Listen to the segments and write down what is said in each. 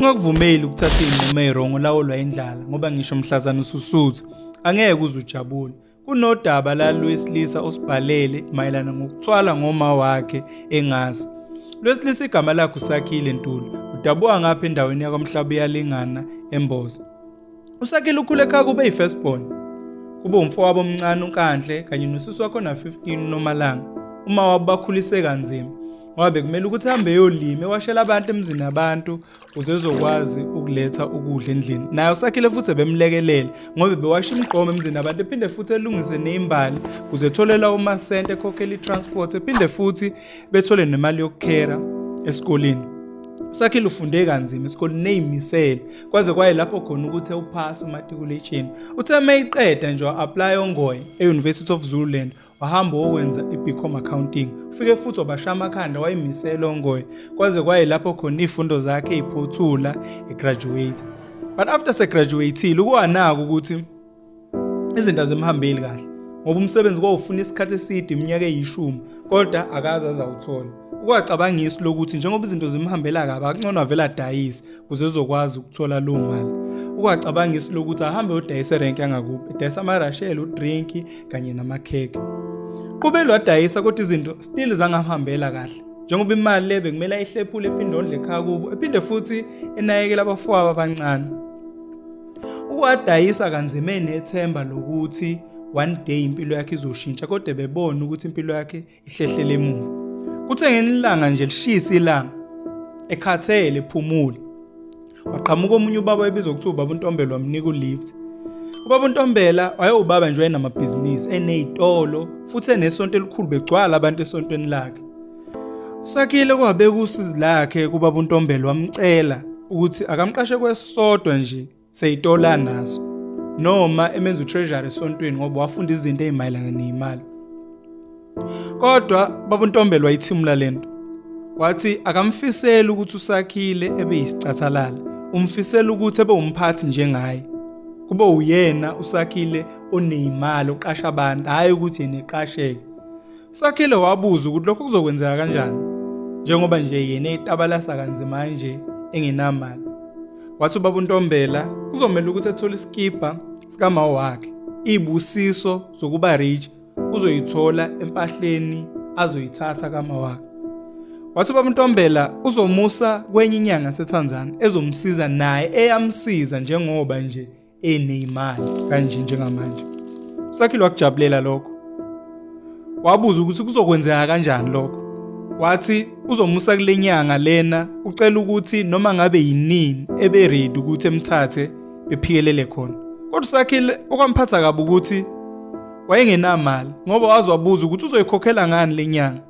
Ungakuvumeli ukuthatha izinqumo ezirongo lawolwa indlala ngoba ngisho mhlazana ususutha angeke uze ujabule. Kunodaba la lwesilisa osibhalele mayelana ngokuthwala ngoma wakhe engazi. Lwesilisa igama lakhe uSakhile Ntuli udabuka ngapha endaweni yakwamhlaba uyalingana eMbozo. uSakile ukhule ekhaya kube yi-firstborn kube umfowabo omncane uNkanhle kanye nosisi wakho na-15 uNomalanga uma wabo bakhulise kanzima ngoba bekumele ukuthi hambe eyolima ewashela abantu emzini abantu ukuze ezokwazi ukuletha ukudla endlini naye usakhile futhi ebemlekelele ngoba bewasha imigqomo emzini abantu ephinde futhi elungise neyimbali ukuze etholela umasente ekhokhela i-transport ephinde futhi bethole nemali yokukhera esikoleni usakhile ufunde kanzima esikoleni neyimisele kwaze kwayilapho khona ukuthi ewuphasa umatikuletsheni uthe uma iqeda nje wa-aplaya ongoye e-university of zululand wahamba wokwenza i-bcom accounting ufike futhi wabasha amakhanda wayimisela ongoye kwaze kwayilapho khona iy'fundo zakhe iphothula egraduate but after segraduatile ukuwanaka ukuthi izinto azimhambeli kahle ngoba umsebenzi kwawufuna isikhathi eside iminyaka eyishumi kodwa akaze azawuthola ukwacabanga isu lokuthi njengoba izinto zimhambela kabi akungcono avele adayise kuze ezokwazi ukuthola loo mali ukwacabanga isu lokuthi ahambe odayise erenki yangakubo edayisa amarashele udrinki kanye namakhekhe qubelo wadayisa kodwa izinto still zangamhambela kahle njengoba imali le bekumele ayihlephule ephinde ondle ekhaya kubo ephinde futhi enakekela abafowabo abancane Uwadayisa kanzima enethemba lokuthi one day impilo yakhe izoshintsha kodwa bebona ukuthi impilo yakhe ihlehlele emuva. Kuthe ngenilanga nje lishisa ilanga ekhathele phumule. Waqhamuka omunye ubaba ebizwa ukuthi ubaba uNtombela wamnika ulift. Ubaba uNtombela wayewubaba nje wayenamabhizinisi enezitolo futhi enesonto elikhulu begcwala abantu esontweni lakhe. Usakhile kwabeka usizi lakhe kubaba uNtombela wamcela ukuthi akamqashe kwesodwa nje seyitola naso noma emenza utreasury esontweni ngoba wafunda izinto ezimayelana nezimali kodwa baba uNtombela wayithimula lento wathi akamfiseli ukuthi usakhile ebe yisicathalala umfisela ukuthi ebe umphathi njengaye kube uyena usakhile onezimali oqasha abantu hayi ukuthi yena eqasheke Sakhile wabuza ukuthi lokho kuzokwenzeka kanjani njengoba nje yena etabalasa kanzima kanje engenamali. Wathi ubaba uNtombela kuzomela ukuthi athole isikibha sikamawo wakhe. Ibusiso zokuba rich uzoyithola empahleni azoyithatha kama wakhe. Wathi ubaba uNtombela uzomusa kwenye inyanga seTanzania ezomsiza naye eyamsiza njengoba nje eneyimali kanje njengamanje usakhile wakujabulela lokho wabuza ukuthi kuzokwenzeka kanjani lokho wathi uzomusa kule nyanga lena ucela ukuthi noma ngabe yinini ebe ready ukuthi emthathe bephikelele khona kodwa usakhile okwamphatha kabi ukuthi wayengenamali ngoba wazi wabuza ukuthi uzoyikhokhela ngani le nyanga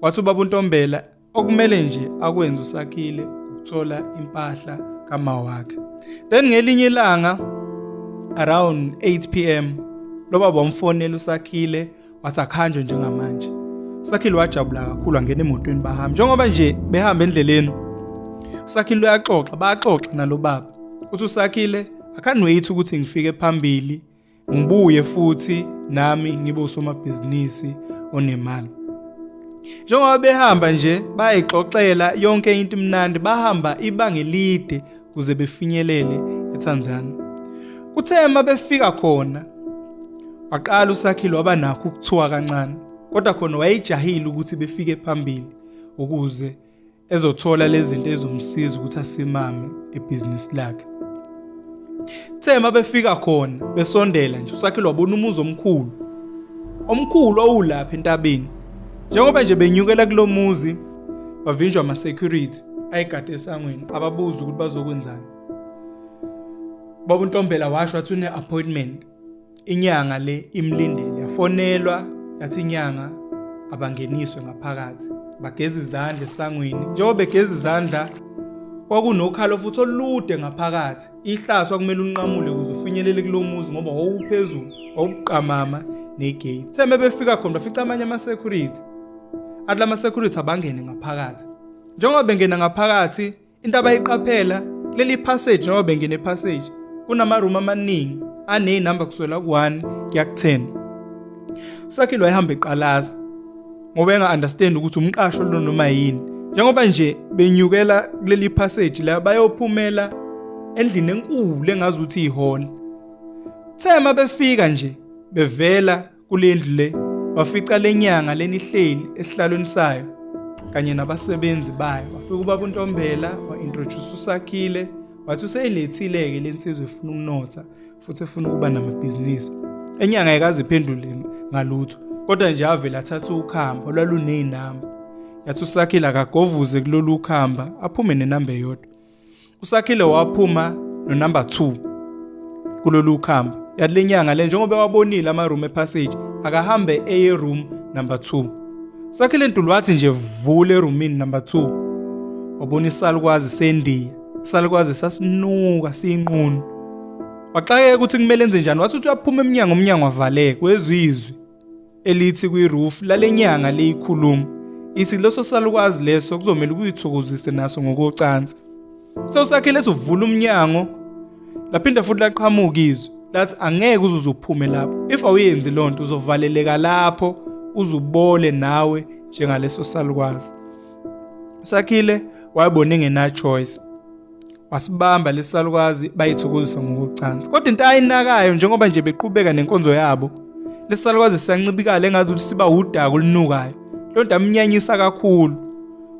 wathi ubaba untombela okumele nje akwenze usakhile ukuthola impahla kama wakhe then ngelinye ilanga around 8 pm loba bomfonela usakhile wasakhanjwe njengamanje usakhile wajabula kakhulu angena emotweni bahamba njengoba nje behamba endleleni usakhile uyaxoxa baxoxa nalobaba uthi usakhile I can't wait ukuthi ngifike phambili ngibuye futhi nami ngibe usomabhizinisi onemali njengoba behamba nje bayixoxela yonke into imnandi bahamba ibanga elide kuze befinyelele eTanzania kuthe uma befika khona waqala usakhile waba nakho ukuthiwa kancane kodwa khona wayejahile ukuthi befike phambili ukuze ezothola lezinto ezomsiza ukuthi asimame ebhizinisi lakhe Kuthe mabefika khona besondela nje uSakhile wabona umuzi omkhulu. Omkhulu owulapha entabeni. Njengoba nje benyukela kulomuzi bavinjwa ama security ayigade esangweni ababuza ukuthi bazokwenzani. Baba uNtombela washo wathi une appointment inyanga le imlindele yafonelwa yathi inyanga abangeniswe ngaphakathi bageza izandla esangweni njengoba begeza izandla kwakunokhalo futhi olude ngaphakathi ihlaso akumele unqamule ukuze ufinyelele kulo muzi ngoba wawuphezulu wawuqamama negate theme befika khona bafica amanye ama-security athi la ma-security abangene ngaphakathi njengoba bengena ngaphakathi Into abayiqaphela leli passage noma bengene passage kunama room amaningi ane number kuswela ku1 kuya ku10. Sakhe lo ehamba eqalaza ngoba enga understand ukuthi umqasho lo noma yini. Njengoba nje benyukela kuleli passage la bayophumela endlini enkulu engazi ukuthi ihall. Thema befika nje bevela kule ndlu le wafica le nyanga lenihleli esihlalweni sayo kanye nabasebenzi bayo wafika ubaba untombela wa-introduce usakhile wathi useyilethile-ke le nsizwa efuna ukunotha futhi efuna ukuba namabhizinisi enyanga yikaziphendule ngalutho kodwa nje avele athatha ukhamba olwaluney'namba yathi usakhile akagovuze kulolu khamba aphume nenamba eyodwa usakhile waphuma nonumber 2 kulolu khamba yale nyanga le njengoba wabonile ama room epassage akahambe eye room number 2 sakhile ntulu wathi nje vule roomini number 2 wabona isalukwazi sendiya isalukwazi sasinuka siyinqunu waxakeka ukuthi kumele enze njani wathi uthi uyaphuma emnyango umnyango avaleke wezizwe elithi kwi-roof lalenyanga leyikhuluma ithi leso salukwazi leso kuzomela ukuyithokozise naso ngokocansi sewusakhe leso vula umnyango laphinda futhi laqhamuka izwi lathi angeke uzuze uphume lapho if awuyenzi loo nto uzovaleleka lapho uzubole nawe njengaleso salukwazi usakhile wayebona engenachoice wasibamba lesalukazi bayithokozisa ngokucansa kodwa into ayinakayo njengoba nje beqhubeka nenkonzo yabo lesalukazi siyancibikala engazi ukuthi siba wudaka olunukayo loo nto amnyanyisa kakhulu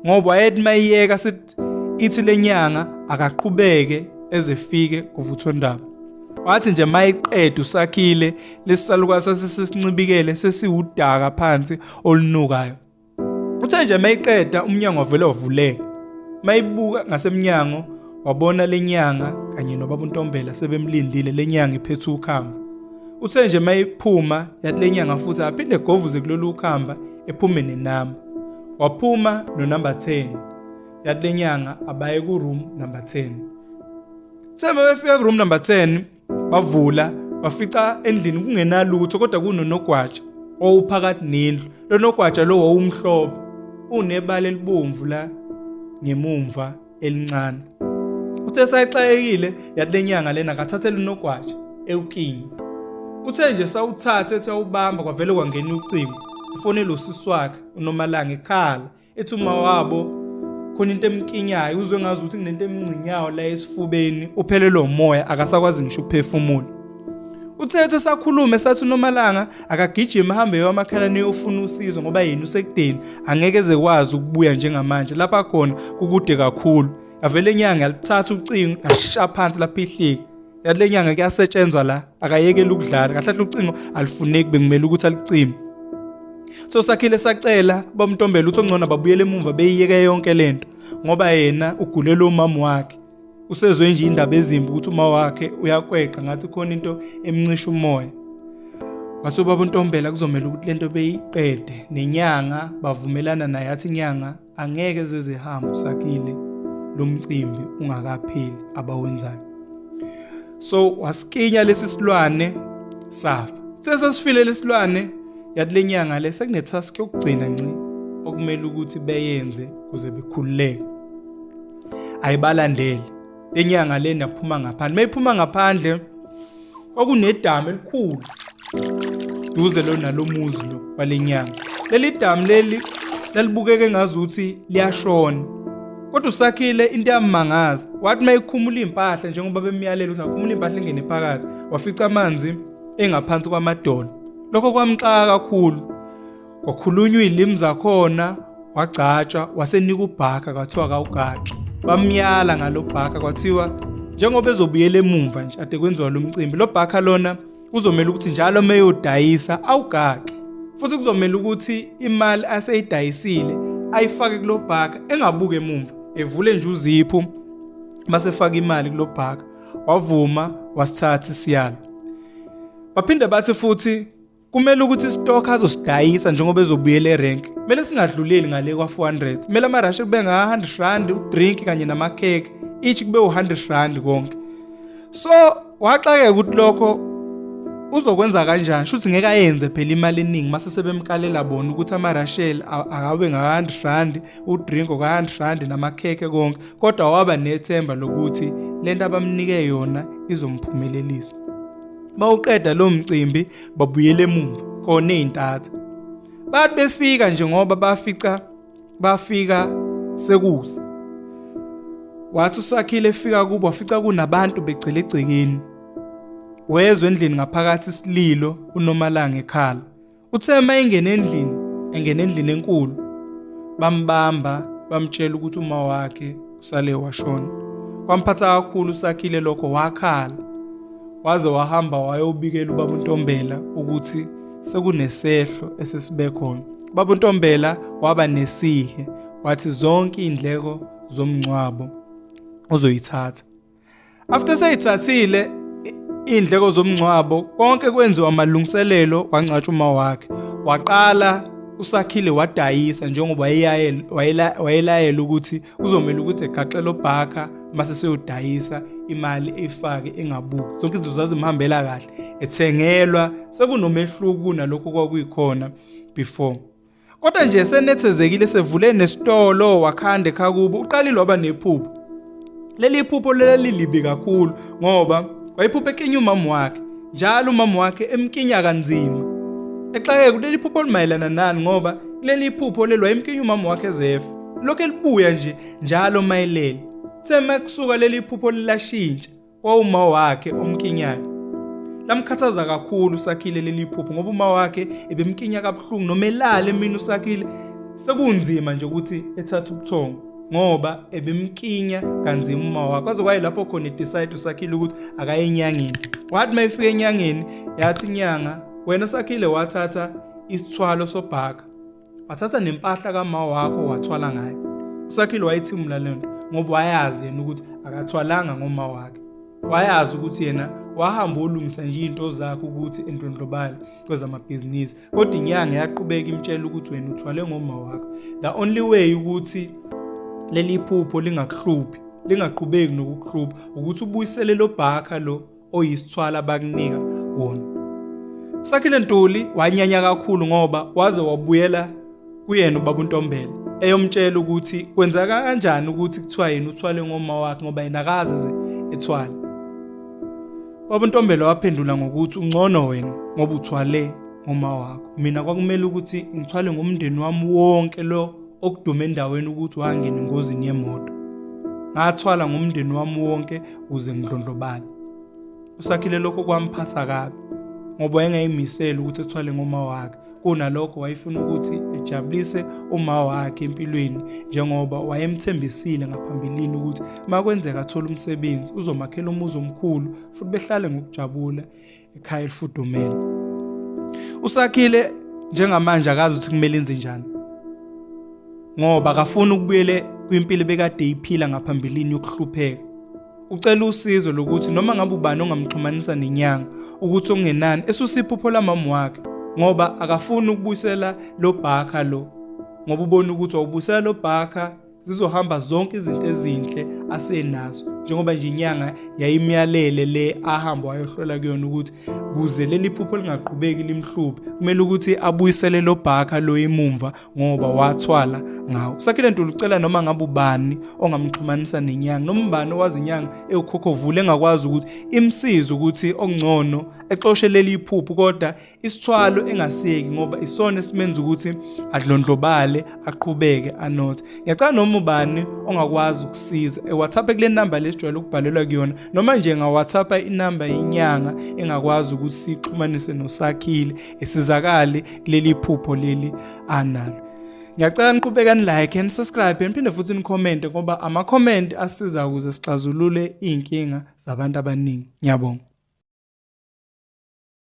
ngoba wayethi uma iyeka sithi ithi le nyanga akaqhubeke ezefike kuvuthondaba wathi nje mayiqeda usakhile lesisalukazi sasesisincibikele sesiwudaka phansi olunukayo Uthe nje mayiqeda umnyango wavele wavuleka. Mayibuka ngasemnyango wabona lenyanga kanye nobaba uNtombela sebemlindile lenyanga iphethe ukhamba. Uthe nje mayiphuma yathi lenyanga futhi aphinde govuze kulolu khamba ephume nenamba. Waphuma no number 10. Yathi lenyanga abaye ku room number 10. Sebe befika ku room number 10 bavula bafica endlini kungenalutho kodwa kunonogwaja owuphakathi nendlu lo nogwaja lo wawumhlobo unebala elibomvu la ngemumva elincane uthe sayixayekile yathi lenyanga lena kathathela unogwaja ewukingi uthe nje sawuthatha ethi awubamba kwavele kwangena ucingo ufonele usisi wakhe unomalanga ekhala ethi uma wabo khona into emkinyayo uzwe ngazi ukuthi kunento emngcinyayo la esifubeni uphelelwe umoya akasakwazi ngisho ukuphefumula uthethe sakhulume sathi unomalanga akagijima hambe yomakhalane yofuna usizo ngoba yena usekudeni angeke zekwazi ukubuya njengamanje lapha khona kukude kakhulu yavele inyanga yalithatha ucingo yasha phansi lapha ihlika yathi le nyanga kuyasetshenzwa la akayekele ukudlala kahle kahle ucingo alifuneki bekumele ukuthi alicime so sakhile sacela bamntombela uthi ongcono babuyele emumva beyiyeke yonke lento ngoba yena ugulele umama wakhe usezwe nje indaba ezimbi ukuthi uma wakhe uyakweqa ngathi khona into emncisha umoya wase ubaba untombela kuzomela ukuthi lento beyiqede nenyanga bavumelana naye athi inyanga angeke zezihambe usakile lo mcimbi ungakapheli abawenzayo so wasikinya lesi silwane safa sesasifile lesilwane yathi lenyanga le sekunetask yokugcina nci okumele ukuthi beyenze kuze bekhululeke ayibalandeli lenyanga le naphuma ngaphandle mayiphuma ngaphandle kwakunedamu elikhulu duze lo nalomuzi lo walenyanga leli damu leli lalibukeke ngazuthi liyashona kodwa usakhile into yamangaza wathi mayikhumula impahla njengoba bemyalela ukuthi akhumula impahla engene phakathi wafica amanzi engaphansi kwamadolo lokho kwamxaka kakhulu kwakhulunywa iy'limi zakhona wagcatshwa wasenika ubhaka kwathiwa akawugaxi bamyala ngalo bhaka kwathiwa njengoba ezobuyela emumva nje ade kwenziwa lo mcimbi lo bhaka lona kuzomele ukuthi njalo uma eyodayisa awugaxi futhi kuzomele ukuthi imali aseyidayisile ayifake kulo bhaka engabuke emumva evule nje uziphu basefaka imali kulo bhaka wavuma wasithatha isiyalo baphinde bathi futhi kumele ukuthi isitokha azosidayisa njengoba ezobuyela erenk kumele singadluleli ngale kwa-400 kumele amarashi kube nga-100 rand udrink kanye namakhekhe each kube u-100 rand konke so waxakeka ukuthi lokho uzokwenza kanjani shuthi ngeke ayenze phela imali eningi mase sebemkalela bona ukuthi amarashel akabe nga-100 rand udrink oka-100 rand namakhekhe konke kodwa waba nethemba lokuthi lento abamnike yona izomphumelelisa Bawuqeda lo mcimbi babuyele emuva khona izintatha. Bathi befika nje ngoba bafica bafika sekusa. Wathi usakhile efika kubo wafica kunabantu begcile egcekeni. Wezwe endlini ngaphakathi isililo uNomalanga ekhala. Uthe uma engena endlini, engena endlini enkulu, bambamba bamtshela ukuthi uma wakhe usale washona. Kwamphatha kakhulu usakhile lokho wakhala. Waze wahamba wayobikela ubaba uNtombela ukuthi sekunesehlo esesibe khona. Ubaba uNtombela waba nesihe wathi zonke indleko zomngcwabo uzoyithatha. After seyithathile indleko zomngcwabo konke kwenziwa amalungiselelo wangcatshwa uma wakhe waqala usakhile wadayisa njengoba wayelayela ukuthi kuzomele ukuthi egaxele obhakha mase seyodayisa imali efake engabuki zonke izinto zazimhambela kahle ethengelwa sekunomehluko kunalokho kwakuyikhona before Kodwa nje senethezekile sevule nesitolo wakhande khakubo uqalile waba nephupho. Leli phupho lelilibi kakhulu ngoba wayephuphe ekinya umama wakhe njalo umama wakhe emkinya kanzima. Exake kuleli phupho limayelana nani ngoba kuleli phupho lelwa emkinya umama wakhe ezefa. Lokho elibuya nje njalo mayelele. Thema kusuka leli phupho lilashintsha. kwawuma wakhe omkinyayo lamkhathaza kakhulu usakhile leli phupho ngoba uma wakhe ebemkinya kabuhlungu noma elale mina usakhile sekunzima nje ukuthi ethathe ubuthongo ngoba ebemkinya kanzima uma wakhe kwaze kwaye lapho khona idecide usakhile ukuthi akaye enyangeni wathi uma efika enyangeni yathi inyanga wena sakhile wathatha isithwalo sobhaka wathatha nempahla kama wakho wathwala ngayo usakhile wayithimula le nto ngoba wayazi yena ukuthi akathwalanga ngoma wakhe wayazi ukuthi yena wahamba olungisa nje into zakhe ukuthi endlondlobale kwezamabhizinisi kodwa inyanga yaqhubeka imtshela ukuthi wena uthwale ngoma wakho the only way ukuthi leli phupho lingakuhluphi lingaqhubeki nokukuhlupha ukuthi ubuyisele lo bhakha lo oyisithwala bakunika wona usakhile ntuli wanyanya kakhulu ngoba waze wabuyela kuyena ubaba untombela eyomtshela ukuthi kwenzeka kanjani ukuthi kuthiwa yena uthwale ngoma wakhe ngoba yena akaze ze ethwala baba untombela waphendula ngokuthi ungcono wena ngoba uthwale ngoma wakho mina kwakumele ukuthi ngithwale ngomndeni wami wonke lo okudume endaweni ukuthi wangena engozini yemoto ngathwala ngomndeni wami wonke kuze ngidlondlobale usakhile lokho kwamphatha kabi ngoba wayengayimisele ukuthi ethwale ngoma wakhe kunalokho wayefuna ukuthi ejabulise uma wakhe empilweni njengoba wayemthembisile ngaphambilini ukuthi makwenzeka athola umsebenzi uzomakhela umuzi omkhulu futhi behlale ngokujabula ekhaya elifudumele usakhile njengamanje akazi ukuthi kumele enze njani ngoba akafuni ukubuyele kwimpilo bekade iphila ngaphambilini yokuhlupheka ucela usizo lokuthi noma ngabe ubani ongamxhumanisa nenyanga ukuthi okungenani esusiphupho lamama wakhe ngoba akafuni ukubuyisela lo bhakha lo ngoba ubona ukuthi wawubuyisela lo bhakha zizohamba zonke izinto ezinhle asenazo njengoba nje inyanga yayimyalele le ahamba wayohlola kuyona ukuthi kuze leli phupho lingaqhubeki limhluphe kumele ukuthi abuyisele lo bhaka lo imumva ngoba wathwala ngawo sakhile ntuli ucela noma ngabe ubani ongamxhumanisa nenyanga noma ubani owazi inyanga ewukhokhovule engakwazi ukuthi imsize ukuthi okungcono exoshe leli iphuphu kodwa isithwalo engasiyeki ngoba isona esimenza ukuthi adlondlobale aqhubeke anothe ngiyacela noma ubani ongakwazi ukusiza ewhatsapp kule namba lesijwayele ukubhalelwa kuyona noma nje ngawhatsapp inamba yenyanga engakwazi ukuthi sixhumanise nosakhile esizakale kuleli phupho leli analo ngiyacela niqhubeka nilike and subscribe niphinde futhi nikhomente ngoba ama-comment asiza ukuze sixazulule iy'nkinga zabantu abaningi ngiyabonga